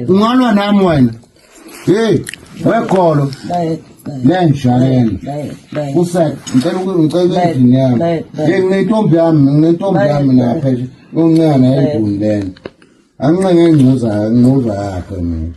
ungalwa nami wena hey wegolo lenjayelo usathi ngicela ngicela endlini yami hey nginentombi yami nginentombi yami lapha uncane yeduni lena anqenge ingcuza ingcuza yakhe mina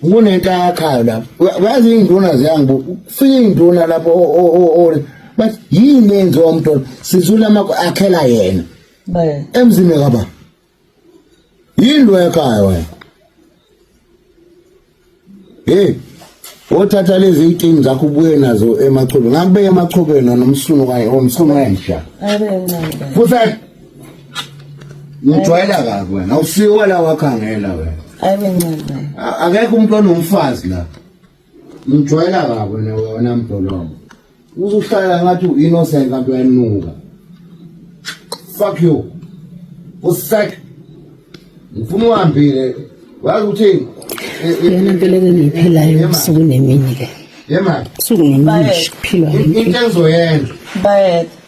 kunento ayakhayo lapho uyazi iy'nduna ziyangibu kufika iy'nduna lapho bathi yini enziwa umntwana sizula amakho akhela yena emzini kaba yini lo yakhaya wena hey othatha lezi iy'tini zakho ubuye nazo emachobeni ngakubeka emachobeni nomsunu kaye omsunu wenja futhi Ngijwayela kabi wena. Awusiwa la wakhangela wena. Ayibe ncane. A- Akekho umuntu onomfazi la. Ngijwayela kabi wena wena mdolongo. Uzuhlala ngathi uinnocent kanti uyanuka. Fuck you. Usek. Ngifuna uhambile. Wazi ukuthi Yona mpilo ke ngiyiphelayo ubusuku nemini ke. Yemali. Ubusuku nemini nje kuphilwa Into engizoyenza. Bayede.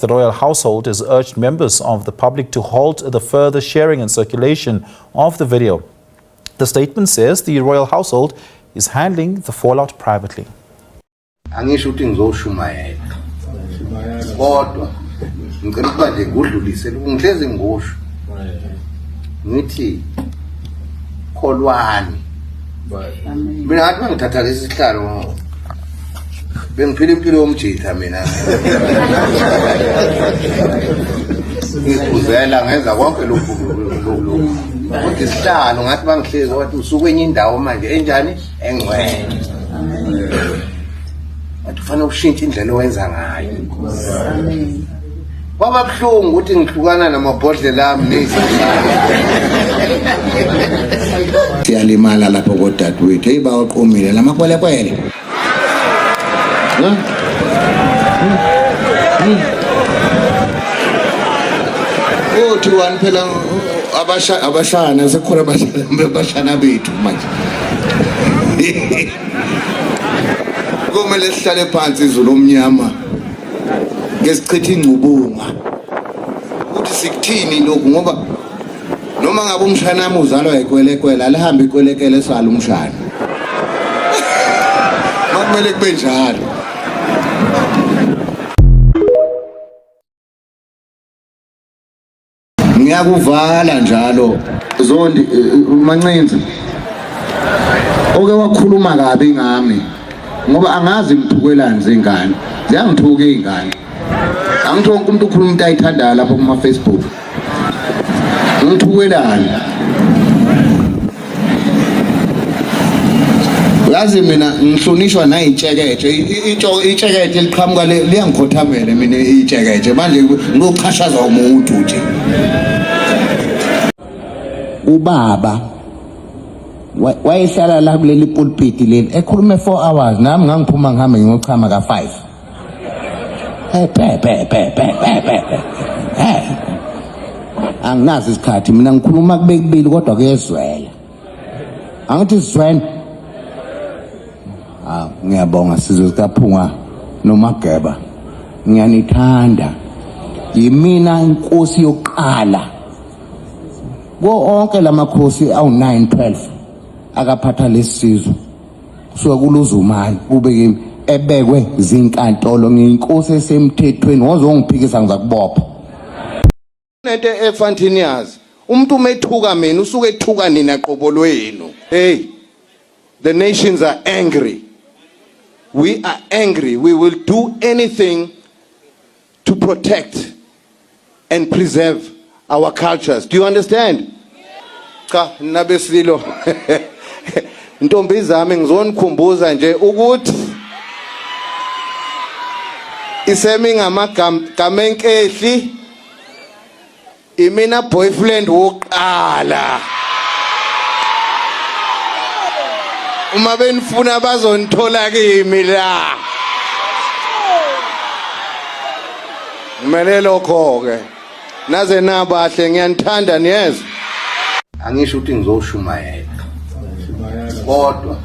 The royal household has urged members of the public to halt the further sharing and circulation of the video. The statement says the royal household is handling the fallout privately. angisho ukuthi ngizoshumayela kodwa ngicela ukuba nje ngudlulise ngihlezi ngusho ngithi kholwani mina ngathi mangithatha lesi sihlalo bengiphila impilo yomjitha mina ngiphuzela ngenza konke lokhu kodwa isihlalo ngathi bangihlezi wathi usuke enye indawo manje enjani engcwele wathi ufanele ushintshe indlela owenza ngayo Kwaba buhlungu ukuthi ngihlukana namabhodlela ami nezihlalo. Siyalimala lapho kodadewethu. Hey bawaqomile lamakwelekwele. Huh? Uthi wani phela abasha abashana sekhona abashana bethu manje. Kumele sihlale phansi izulu omnyama. ngesichitha ingcubunga ukuthi sikuthini lokhu ngoba noma ngabe umshana wami uzalwa yikwelekwela lihambe ikwelekele sala umshana makumele kube njalo ngiyakuvala njalo zondi eh, eh, mancinza oke wakhuluma kabi ngami ngoba angazi ngithukelani zingane ziyangithuka iy'ngane angithi wonke umuntu ukhuluma into ayithandayo lapho kuma-facebook ngithukelani yazi mina ngihlonishwa nayitsheketshe itsheketshe liqhamuka liyangikhothamela mina itsheketshe manje ngochashaza umuntu nje ubaba wayehlala la kuleli pulpit leli ekhulume 4 hours nami ngangiphuma ngihambe ngiyochama ka 5 Eh, eh. anginazi isikhathi mina ngikhuluma kube kubili kodwa kuyezwela angithi sizwene ah ngiyabonga sizwe sikaphunga nomageba ngiyanithanda yimina inkosi yokuqala ko onke lamakhosi awu9 12 akaphatha lesizwe kusuka kuluzumani kube kimi ebekwe zinkantolo nginkosi esemthethweni wozongiphikisa ngizakubopha nento ekufanele niyazi umuntu umethuka mina usuke ethuka nina qobo lwenu hey the nations are angry we are angry we will do anything to protect and preserve our cultures. Do you understand? Cha, nabesililo. Ntombi zami ngizonikhumbuza nje ukuthi isemi ngamagamenkehli imina boyfriend wokuqala uma benifuna bazonithola kimi la Ngimele lokho ke. Naze nabahle ngiyanithanda niyezwa. Angisho ukuthi ngizoshumayela. Kodwa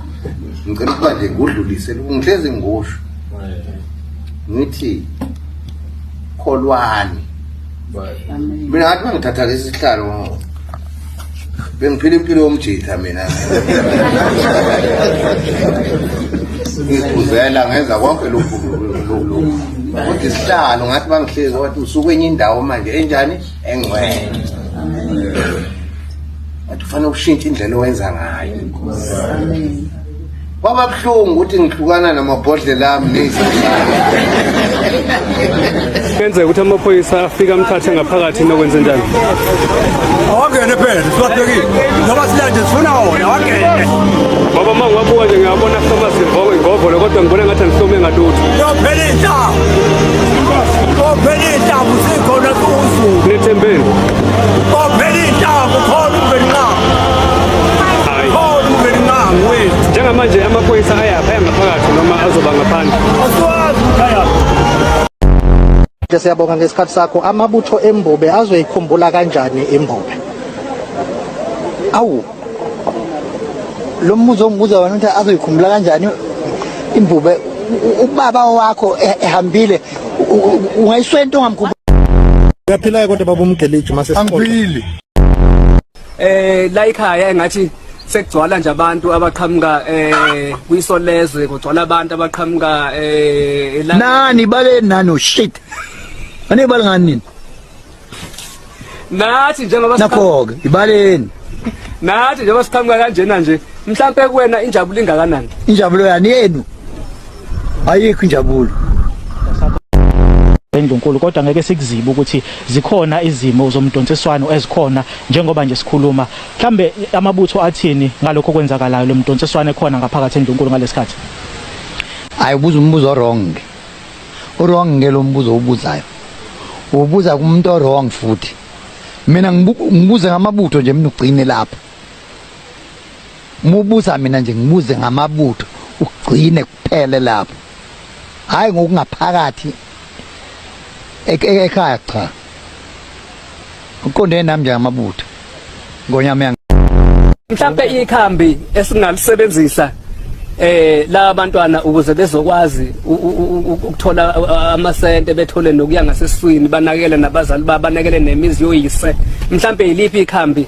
ngicela ukuba nje ngudlulise ngihlezi ngosho. Ngithi kholwani. Mina ngathi mangithatha lesi sihlalo bengiphila impilo yomjitha mina ngiphuzela ngenza konke lokhu kodwa isihlalo ngathi bangihlezi wathi usuke enye indawo manje enjani engcwele wathi ufanele ukushintsha indlela owenza ngayo Kwaba buhlungu ukuthi ngihlukana namabhodlela ami nezihlalo. Kenzeka ukuthi amaphoyisa afika amthathe ngaphakathi nokwenze njani? Awangene phela, sibahlekile. Noma silanje sifuna wona, awangene. Baba uma ngiwabuka nje ngiyabona soma sivoko ingovolo kodwa ngibona ngathi angihlome ngalutho. Yophela intambo. Yophela intambo sikhona kuzo. Nethembeni. Yophela intambo khona ubenqaba. Njengamanje amaphoyisa ayapha yangaphakathi noma azoba ngaphandle. Asiwazi ukuthi ayaphi. Siyabonga ngesikhathi sakho. Amabutho eMbobe azoyikhumbula kanjani iMbobe? Awu. Lo mbuzo ongibuza wena ukuthi azoyikhumbula kanjani iMbobe ubaba wakho e-, ehambile ungayiswenta ongamkhumbula. Uyaphila kodwa baba umgeliji mase siqoqa. Angiphili. eh la ikhaya engathi sekugcwala nje abantu abaqhamuka eh kwisolezwe kugcwala abantu abaqhamuka eh la nani bale nano shit ane bale ngani nini nathi njengoba nakho ke ibaleni nathi njengoba siqhamuka kanjena nje mhlambe kuwena injabulo ingakanani injabulo yani yenu ayikho injabulo eNdlunkulu kodwa ngeke sikuzibe ukuthi zikhona izimo zomdonsiswano ezikhona njengoba nje sikhuluma mhlambe amabutho athini ngalokho kwenzakalayo lo mdonsiswano ekhona ngaphakathi eNdlunkulu ngalesikhathi hayi ubuza umbuzo wrong uwrong ngelo mbuzo ubuzayo ubuza kumuntu owrong futhi mina ngibuza ngamabutho nje mina ugcine lapha Mubuza mina nje ngibuze ngamabutho ugcine kuphele lapho. Hayi ngokungaphakathi e-, e-, ekhaya cha. Uqonde nami nje ngamabutho. Ngonyama yang. Mhlambe ikhambi esingalisebenzisa eh la bantwana ukuze bezokwazi ukuthola amasente bethole nokuya ngasesiswini banakele nabazali babo banakele nemizi yoyise mhlambe yiliphi ikhambi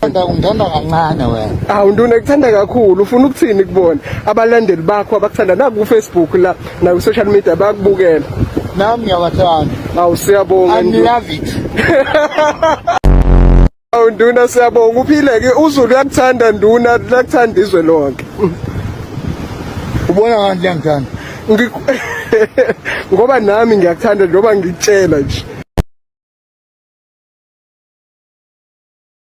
Ngithanda ungithanda kancane wena. Awu nduna ngithanda kakhulu ufuna ukuthini kubona abalandeli bakho abakuthanda naku ku Facebook la naku social media bakubukela. Nami ngiyabathanda. Awu siyabonga. I love it. Awu nduna siyabonga uphile ke uZulu uyakuthanda nduna lakuthanda izwe lonke. Ubona kanti liyangithanda. Ngoba nami ngiyakuthanda noma ngikutshela nje.